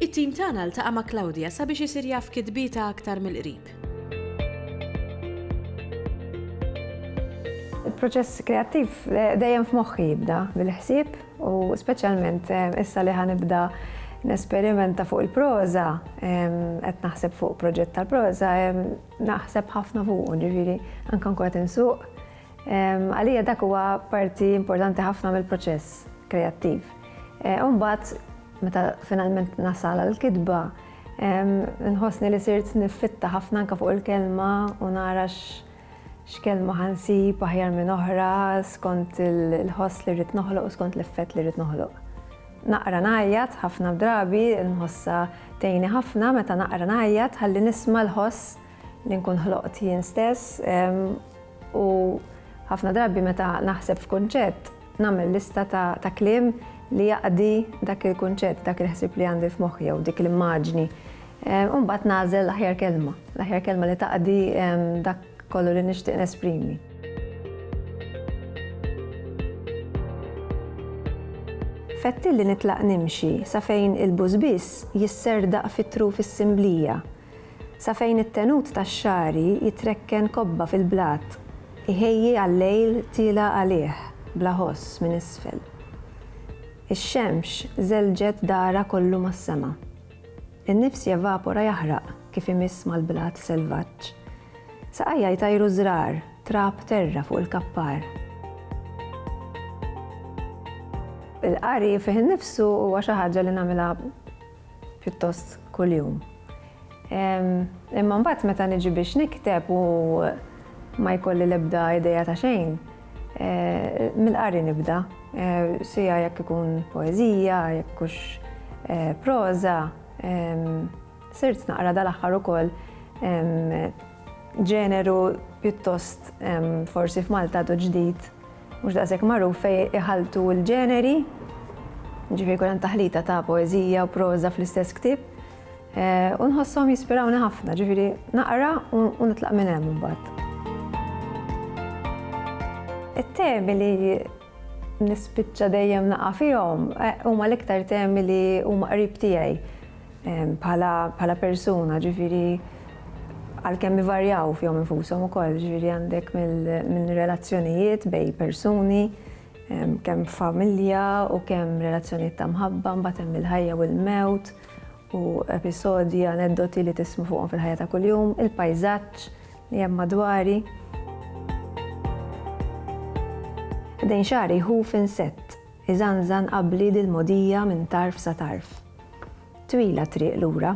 It-tim tagħna ltaqa' ma' Claudia sabiex isir jaf kitbietha aktar mill-qrib. Il-proċess kreattiv eh, dejjem f'moħħi jibda bil-ħsieb u speċjalment eh, issa li ħanibda nesperimenta fuq il-proza, eh, qed naħseb fuq proġett tal-proza, naħseb ħafna fuq, ġifieri anke nkun qed insuq. Għalija dak huwa parti importanti ħafna mill-proċess kreattiv. Umbagħad Meta finalment nasal għall-kitba, nħossni li sirt niffitta ħafna anke fuq il-kelma u nara x'kelma ħansib aħjar minn oħra skont il-ħoss li rrid noħloq u skont l-effett li rrid noħloq. Naqra ngħajjat ħafna drabi, nħossha tgħinni ħafna meta naqra ngħajjat ħalli nisma' l-ħoss li nkun ħloqt jien stess. U ħafna drabi meta naħseb f'kunċett, nagħmel lista ta' kliem li jaqdi dak il-kunċett, dak il-ħsieb li għandi f'moħħi jew dik l-immaġni. U mbagħad nagħżel l-aħjar kelma, l-aħjar kelma li taqdi dak kollu li nixtieq nesprimi. Fettilli nitlaq nimxi sa fejn il-bus biss jisserdaq fit-truf is-simblija. Sa fejn it-tenut tax-xagħri jitrekken kobba fil-blat, iħejji għal-lejl tiela' għalih bla ħoss minn isfel. Ix-xemx żelġet dahra kollu mas-sema. In-nifs jevapora jaħraq kif imiss mal-blat selvaġġ. Saqajja jtajru żrar, trab terra fuq il-kappar. Il-qari fih innifsu huwa xi ħaġa li nagħmilha pjuttost kuljum. Imma mbagħad meta niġi biex nikteb u ma jkolli l-ebda ideja ta' xejn, eh, mill-qari nibda, eh, sija jekk ikun poezija, jekk kux eh, proza, sirt naqra dal-aħħar ukoll ġeneru pjuttost forsi f'Malta do ġdid Mhux daqshekk magħruf fejn iħalltu l-ġeneri, jiġifieri jkun hemm taħlita ta' poeżija u proża fl-istess ktieb, u nħosshom jispirawni ħafna, ġifieri naqra u nitlaq minn hemm imbagħad. It-temi li nispiċċa dejjem naqa' fihom huma l-iktar temi li huma qrib tiegħi. bħala persuna, ġifiri għalkemm ivarjaw fihom infushom ukoll, ġifiri għandek minn relazzjonijiet bej persuni, kemm familja u kemm relazzjonijiet ta' mħabba, mbagħad hemm il-ħajja u l-mewt u episodji, aneddoti li tismu fuqhom fil-ħajja ta' kuljum, il-pajżaġġ li hemm madwari. Dejn xari hu f'insett Iżanżan qabbli dil-mogħdija minn tarf sa tarf. Twila t-triq lura.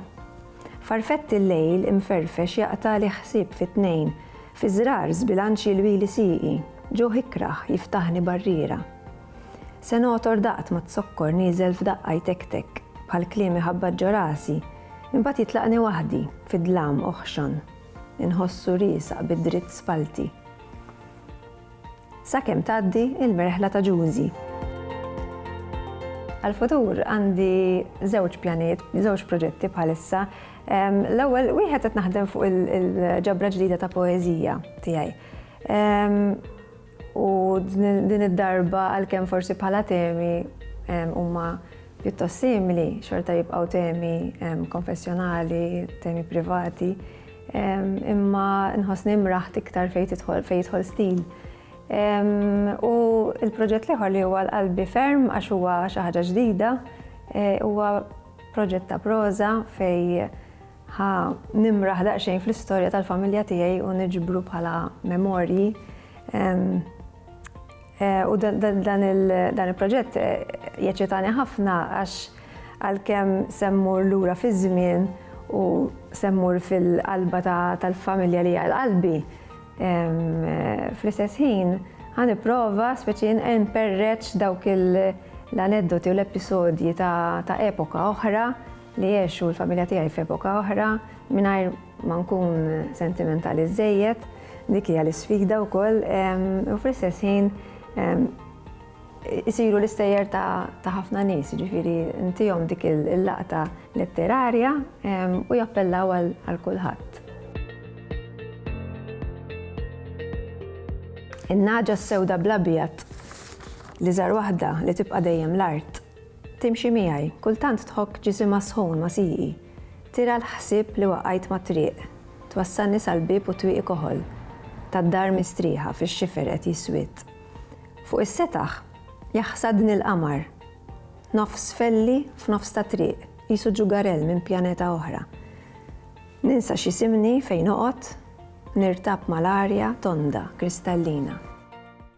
Farfett il-lejl imferfex jaqtagħli ħsieb fi tnejn, fi żrar żbilanċ jilwili sieqi, ġuħ ikrah jiftaħni barriera. Se nogħtor daqt ma t-zokkor nieżel f'daqqa jtektek, bħal kliem iħabbat ġo rasi, imbagħad jitlaqni waħdi, fid-dlam oħxon. Inħossu riesaq bid-dritt spallti. Sakemm tgħaddi l-merħla ta' Ġużi. Għall-futur għandi żewġ pjanijiet, żewġ proġetti bħalissa. L-ewwel wieħed qed naħdem fuq il-ġabra ġdida ta' poeżija tiegħi. U din id-darba għalkemm forsi bħala temi huma pjuttost simili, xorta jibqgħu temi konfessjonali, temi privati. Imma nħossni imraħt iktar fejn tidħol fejn jidħol stil. U l-proġett l-ieħor li huwa l-qalbi ferm għax huwa xi ħaġa ġdida, e, huwa proġett ta' proża fejn ħa nimraħ daqsxejn fl-istorja tal-familja tiegħi u niġbru bħala memorji. U dan il-proġett jeċċitani ħafna għax għalkemm se mmur lura fiż-żmien u se mmur fil-qalba tal-familja li hija qalbi, fl-istess ħin ħa nipprova speċi nperreċ dawk l-aneddoti u l-episodji ta' epoka oħra Li jgħixu u l-familja tiegħi f'epoka oħra, mingħajr ma nkun sentimentali żżejjed, dik hija l-isfida wkoll, u fl-istess ħin isiru l-istejjer ta' ħafna nies, jiġifieri ntihom dik il-laqta letterarja u jappellaw għal kulħadd. In-nagħġa s-sewda bl-abjad, l-iżgħar waħda li tibqa' dejjem l-art. Timxi miegħi, kultant tħokk ġisimha sħun ma' sieqi. Tira l-ħsieb li waqajt mat-triq. Twassalni sal-bieb u twieqi koħol tad-dar mistrieħa fix-xifer qed jiswied. Fuq is-setaħ jaħsadni l-qamar. Nofs felli f'nofs ta' triq, qisu ġugarell minn pjaneta oħra. Ninsa x'isimni, fejn noqgħod, nirtab mal-arja tonda, kristallina.